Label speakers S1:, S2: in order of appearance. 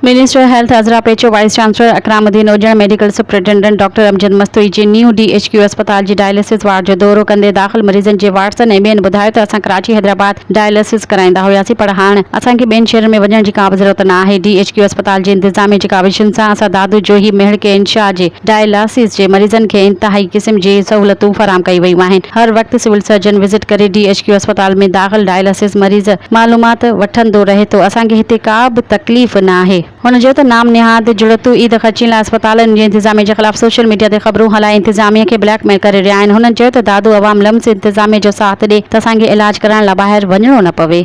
S1: Minister health Azra Pechuho, vice chancellor Ikram Uddin Ujjan, medical superintendent doctor Amjad Mastoi جي new D H Q اسپتال جي dialysis ward جو دورو ڪندي داخل مريضن جي وارثن ۽ ٻين ٻڌايو ته اسان ڪراچي حيدرآباد ڊائلسز ڪرائيندا هياسين پر هاڻ اسان کي ٻين شهرن ۾ وڃڻ جي ڪا به ضرورت نه آهي ڊي ايڇ ڪيو اسپتال جي انتظاميه جي ڪاوشن سان اسان دادو جوهي مهڙ کي انشاء جي ڊائلاسز جي مريضن کي انتهائي قسم جي سهولتون فراهم ڪيون ويون آهن، هر وقت سول سرجن وزٽ ڪري ڊي ايڇ ڪيو اسپتال ۾ داخل ڊائلاسز مريض معلومات وٺندو رهي ٿو، اسان کي هتي ڪا به تڪليف نه آهي. هن چيو ته نام نهاد جڙتون عيد خرچين لاء اسپتالن جي انتظاميه جي خلاف سوشل ميڊيا تي خبرون هلائي انتظاميه کي بليڪ ميل ڪري رهيا آهن، هنن چيو ته دادو عوام لمس انتظاميه جو ساٿ ڏي ته اسان کي علاج ڪرائڻ لاء ٻاهر وڃڻو نه پوي.